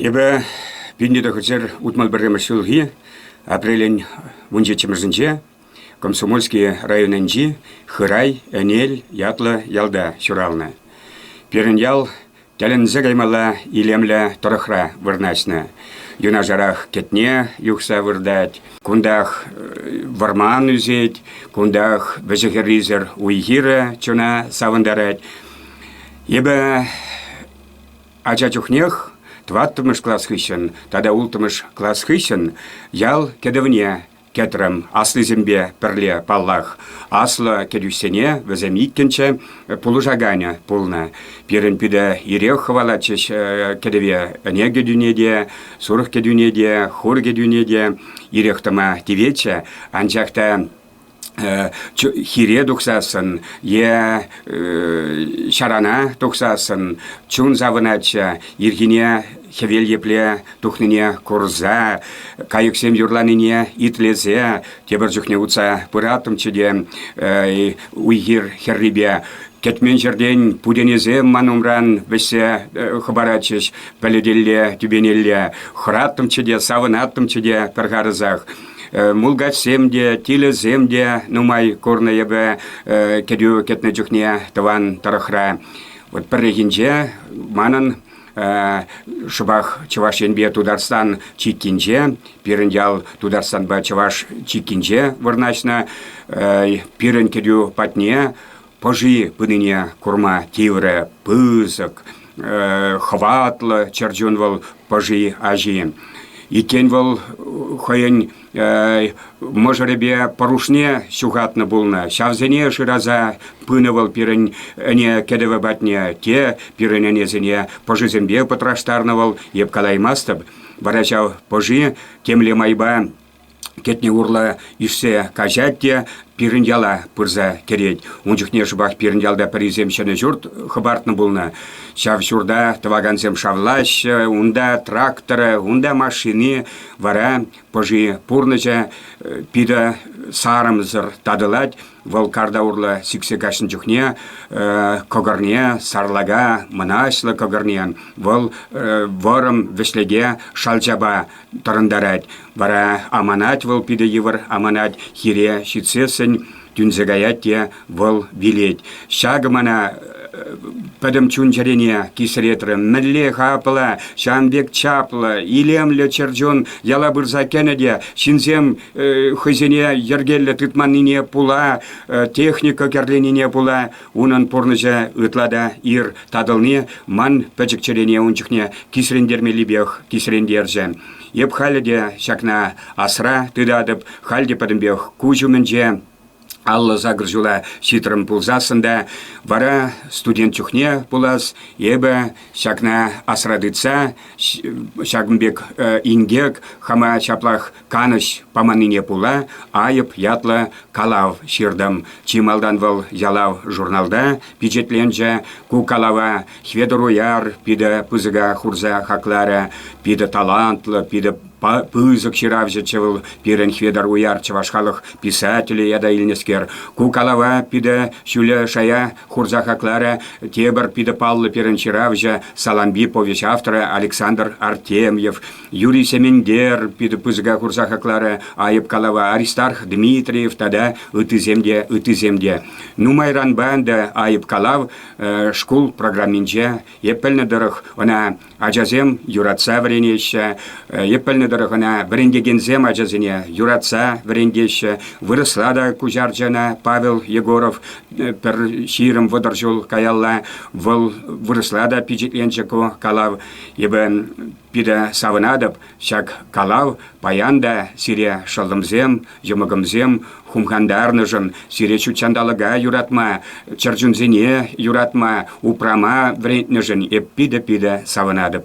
Эпӗ вилнӗ тӑхӑрҫӗр утмӑл пӗрремӗш ҫулхи апрелӗн вунҫиччӗмӗшӗнче Комсомольски районӗнчи Хырай Ӗнел ятлӑ ялта ҫуралнӑ. Пирӗн ял Тӗлӗнсе каймалла илемлӗ тӑрӑхра вырнаҫнӑ. Юнашарах кӗтне юхса выртать. Кунтах вӑрман ӳсет, кунтах вӗҫӗ-хӗррисӗр уй-хирӗ чуна савӑнтарать. Эпӗ ача чухнех тӑваттӑмӗш класс хыҫҫӑн тата улттӑмӗш класс хыҫҫӑн ял кӗтӗвне кӗтрӗм. Аслисемпе пӗрле, паллах, аслӑ кӗтӳҫсене вӗсем иккӗнче пулӑшаканӗ пулнӑ. Пирӗн питӗ ирех хӑвалатчӗҫ кӗтӗве. Ӗне кӗтӳне те, сурӑх кӗтӳне те, хур кӗтӳне те ирех тӑма тиветчӗ. Анчах та хире тухсассӑн е ҫарана тухсассӑн чун савӑнатчӗ. Ирхине хӗвел епле тухнине курса, кайӑксем юрланине итлесе, тепӗр чухне утса пыраттӑмччӗ те уй-хир хӗррипе кӗтмен ҫӗртен путенесем ман умран вӗҫсе хӑпаратчӗҫ пӗлӗтелле, тӳпенелле. Хӑраттӑмччӗ те, савӑнаттӑмччӗ те пӗр харӑсах. Мулкачсем те, тилӗсем те нумай курнӑ эпӗ кӗтӳ кӗтнӗ чухне тӑван тӑрӑхра. Вот пӗррехинче манӑн шӑпах Чӑваш Енпе Тутарстан чиккинче, пирӗн ял Тутарстанпа Чӑваш чиккинче вырнаҫнӑ. Пирӗн кӗтӳ патне пӑши пынине курма тиврӗ пысӑк, хӑватлӑ чӗрчун вӑл пӑши аҫи. Иккен вӑл хӑйӗн мӑшӑрӗпе пӑрушне ҫухатнӑ пулнӑ. Ҫавсене шыраса пынӑ вӑл пирӗн ӗне кӗтӗвӗ патне. Те пирӗн ӗнесене пӑшисемпе пӑтраштарнӑ вӑл, эп калаймастӑп. Вара ҫав пӑши темле майпа кӗтне урлӑ ишсе каҫать те пирӗн яла пырса кӗрет. Ун чухне шӑпах пирӗн ялта пӗрисем ҫӗнӗ ҫурт хӑпартнӑ пулнӑ. Ҫав ҫурта тӑвакансем шавлаҫҫӗ, унта тракторӗ, унта машини, Вара пӑши пурнӑҫа питӗ сарӑмсӑр татӑлать. Вӑл карта урлӑ сиксе каҫнӑ чухне кӑкӑрне, сарлака, мӑнаҫлӑ кӑкӑрне вӑл вӑрӑм вӗҫлеке шалчапа тӑрӑнтарать. Вара аманать вӑл питӗ йывӑр аманать, хире ҫитсессӗн тӳнсе каять те Вӑл вилет. Ҫакӑ мана пӗтӗм чун-чӗрене кисретрӗ. Мӗнле хаплӑ, ҫан пек чаплӑ, илемлӗ чӗрчун яла пырса кӗнӗ те ҫынсем хӑйсене йӗркеллӗ тытманнине пула, техника кӗрленине пула унӑн пурнӑҫӗ ытла та ир татӑлни ман пӗчӗк чӗрене ун чухне кисрентермеллипех кисрентерчӗ. Эп халӗ те ҫакна асра тытатӑп, халь те пӗтӗмпех куҫ умӗнче Аллӑ сакӑр ҫула ҫитрӗм пулсассӑн та вара студент чухне пулас, эпӗ ҫакна асра тытса ҫакӑн пек э, инкек хама ҫаплах канӑҫ паманнине пула айӑп ятлӑ калав ҫыртӑм. Чи малтан вӑл ялав журналта пичетленчӗ. Ку калава Хветӑр Уяр питӗ пысӑка хурса хакларӗ. Питӗ талантлӑ, питӗ Пысӑк ҫыравҫӑччӗ вӑл пирӗн Хветӑр Уяр чӑваш халӑх писателӗ ята илнӗскер. Ку калава питӗ ҫӳле шая хурса хакларӗ тепӗр питӗ паллӑ пирӗн ҫыравҫӑ, Салампи повеҫ авторӗ Александр Артемьев. Юрий Семендер питӗ пысӑка хурса хакларӗ айӑп калава Аристарх Дмитриев тата ыттисем те, ыттисем те. Нумайранпа ӗнтӗ айӑп калав шкул программинче, эп пӗлнӗ тӑрӑх, ӑна Ачасем юратса вӗренеҫҫӗ. Е пӗлнӗ тӑрӑх ӑна вӗрентекенсем ачасене юратса вӗрентеҫҫӗ. Вырӑсла та куҫарчӗ ӑна Павел Егоров пӗр ҫирӗм вӑтӑр ҫул каялла. Вӑл вырӑсла та пичетленчӗ ку калав. Эпӗ питӗ савӑнатӑп, Ҫак калав паян та сире шӑллӑмсем, йӑмӑкӑмсем хумхантарнӑшӑн, сире ҫут ҫанталӑка юратма, чӗрчунсене юратма, упрама вӗрентнӗшӗн эп питӗ-питӗ савӑнатӑп.